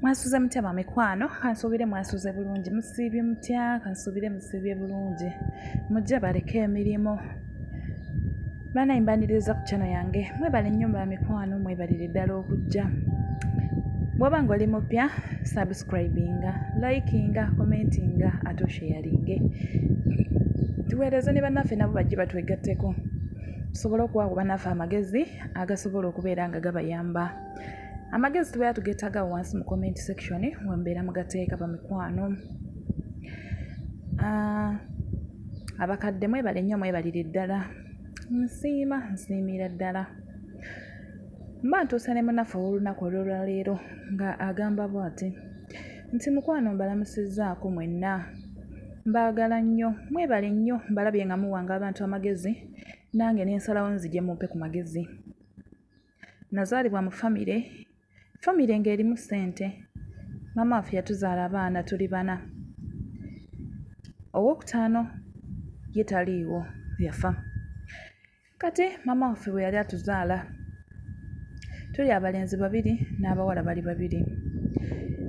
mwasuze mutya bamikwano kansuubire mwasuze bulungi musiibye mutya kansuubire musiibye bulungi mujja baleke emirimu banaye mbaniriza ku kyano yange mwebale nnyo bamikwano mwebalire ddala okujja bwoba nga oli mupya subscribinga likinga commentinga ate osheyaringe tuweereze ne bannaffe nabo bajje batwegatteko tusobole okuwa ku bannaffe amagezi agasobola okubeera nga gabayamba amagezi tubeera tugeetaga wansi mu comment section wembeera mugateeka bamikwano ah, abakadde mwebale nnyo mwebalire ddala nsiima nsiimira ddala mba ntuuse ne munafe ow'olunaku olwolwaleero nga agamba bwati nti mukwano mbalamusizzaako mwenna mbaagala nnyo mwebale nnyo mbalabye nga muwanga abantu amagezi nange nensalawo nzije mumpe ku magezi nazaalibwa mu famire famire ng'erimu ssente maama waffe yatuzaala abaana tuli bana owokutaano ye taliiwo yafa kati maama waffe bwe yali atuzaala tuli abalenzi babiri n'abawala bali babiri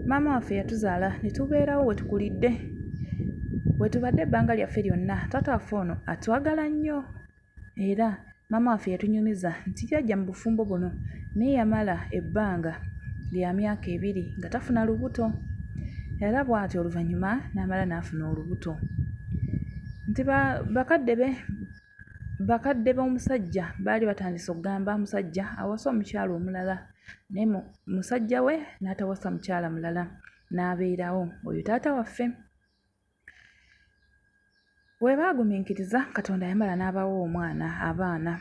maama waffe yatuzaala ne tubeerawo we tukulidde we tubadde ebbanga lyaffe lyonna taata waffe ono atwagala nnyo era maama waffe yatunyumiza nti jajja mu bufumbo buno naye yamala ebbanga lya myaka ebiri nga tafuna lubuto era bwati oluvannyuma n'amala n'afuna olubuto nti bakadde be bakadde b'omusajja baali batandise okugamba omusajja awasa omukyala omulala naye musajja we n'atawasa mukyala mulala n'abeerawo oyo taata waffe. Bwe baagumiikiriza, Katonda yamala n'abawa omwana, abaana.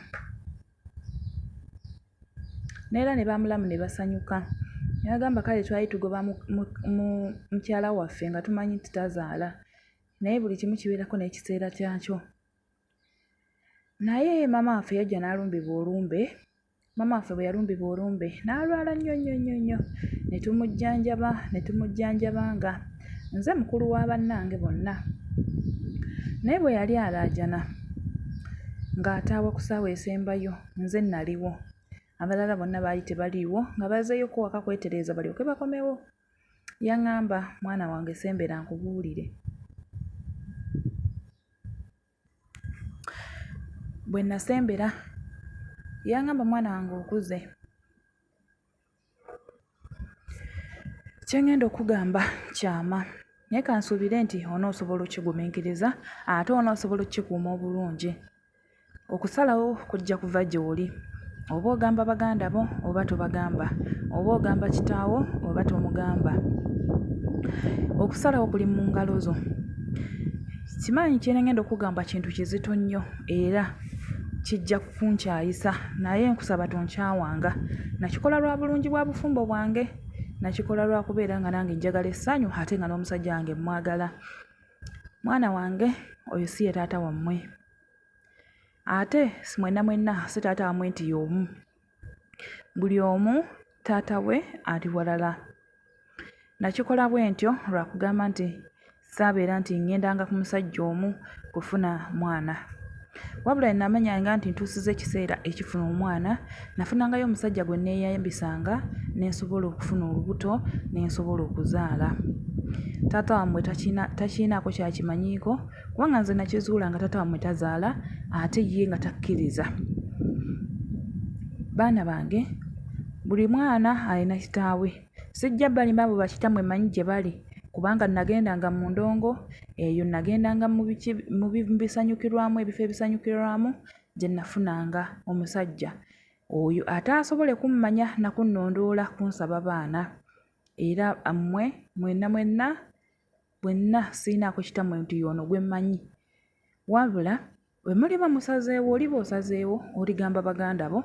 N'era ne bamulamu ne basanyuka. Ne bagamba, kale twali tugoba mukyala waffe nga tumanyi nti tazaala. Naye buli kimu kibeerako n'ekiseera kyakyo. Naye maama waffe yajja n'alumbibwa olumbe. Maama waffe bwe yalumbibwa olumbe n'alwala nnyo nnyo nnyo nnyo ne tumujjanjaba ne tumujjanjaba nga nze mukulu wa bannange bonna. Naye bwe yali alaajana ng'ataawa ku ssaawa esembayo nze naliwo. Abalala bonna baali tebaliiwo nga bazeeyoko waka kwetereeza balyoke bakomewo. Yaŋŋamba, mwana wange sembera nkubuulire. Bwe nnasembera yangamba mwana wange okuze kye ŋŋenda okukugamba kyama naye kansuubire nti onoosobola okkigumiikiriza ate onoosobola okkikuuma obulungi. Okusalawo kujja kuva gy'oli oba ogamba baganda bo oba tobagamba, oba ogamba kitaawo oba tomugamba, okusalawo kuli mu ngalo zo. Simanyi kye ŋŋenda okukugamba kintu kizito nnyo era kijja kunkyayisa naye nkusaba tonkyawanga. Nakikola lwa bulungi bwa bufumbo bwange, nakikola lwa kubeera nga nange njagala essanyu ate nga n'omusajja wange mmwagala. Mwana wange oyo si ye taata wammwe ate mwenna mwenna si taata wammwe nti y'omu. buli omu taata we ali walala. Nakikola bwe ntyo lwa kugamba nti saabeera nti ŋŋendanga ku musajja omu kufuna mwana. Wabula bwe namanyanga nti ntuusizza ekiseera ekifuna omwana, nafunangayo omusajja gwe nneeyambisanga ne nsobola okufuna olubuto ne nsobola okuzaala. Taata wammwe takiyina takiyinaako ky'akimanyiiko kubanga nze nakizuula nga taata wamwe tazaala ate ye nga takkiriza baana bange buli mwana alina kitaawe sijja balimba abo bakitamwe manyi gye bali kubanga nagendanga mu ndongo eyo nagendanga mu bisanyukirwamu ebifo ebisanyukirwamu gye nafunanga omusajja oyo ate asobole kummanya nakunnondoola kunsaba baana era mmwe mwenna mwenna bwenna sirinaako kitammwe nti ono gwe mmanyi wabula bwe muliba musazeewo oliba osazeewo oligamba baganda bo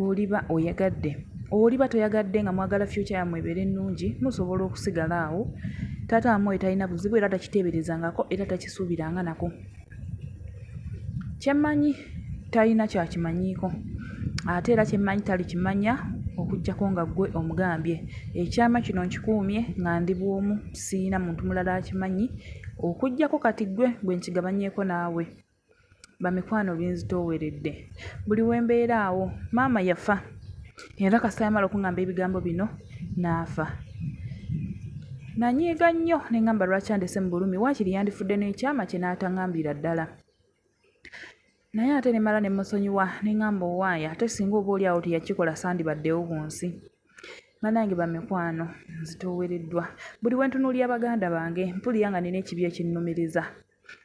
oliba oyagadde oliba toyagadde nga mwagala fyukya yammwe ebeere ennungi musobola okusigala awo taata wamwe oyo talina buzibu era takiteeberezangako era takisuubiranga nako Kye mmanyi talina ky'akimanyiiko ate era kye mmanyi talikimanya okuggyako nga ggwe omugambye. Ekyama kino nkikuumye nga ndi bw'omu sirina muntu mulala akimanyi okuggyako kati ggwe gwe nkigabanyeeko naawe. Bamikwano binzitooweredde buli we mbeera awo maama yafa. era kasita yamala okuŋŋamba ebigambo bino n'afa nanyiiga nnyo ne ŋŋamba lwaki andese mu bulumi waakiri yandifudde n'ekyama kye n'ataŋambira ddala naye ate ne mala ne musonyiwa ne ŋŋamba owaaya ate singa oba oli awo teyakikola sandibaddewo ku nsi banange bamikwano nzitoowereddwa buli wentunuulira baganda bange mpulira nga nina ekibi ekinnumiriza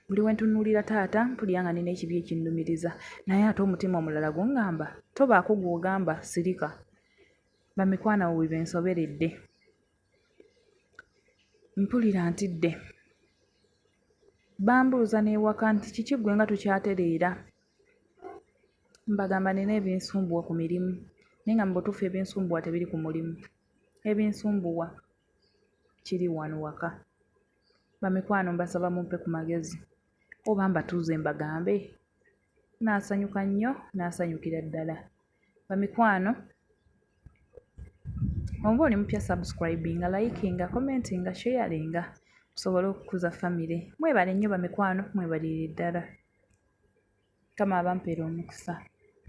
Buli we ntunuulira taata mpulira nga nina ekibi ekinnumiriza naye ate omutima omulala gungamba tobaako gw'ogamba sirika. Bamikwana we binsoberedde. Mpulira ntidde. Bambuuza n'ewaka nti kiki ggwe nga tokyatereera? Mbagamba nina ebinsumbuwa ku mirimu naye nga mu butuufu ebinsumbuwa tebiri ku mulimu. Ebinsumbuwa kiri wano waka. Bamikwano mbasaba mumpe ku magezi oba mbatuuze mbagambe? Nnaasanyuka nnyo, nnaasanyukira ddala. Bamikwano oba oli mupya subscribinga, likinga, commentinga, sharinga tusobole okukuza famire. Mwebale nnyo bamikwano, mwebalire ddala. Mukama abampeere omukisa.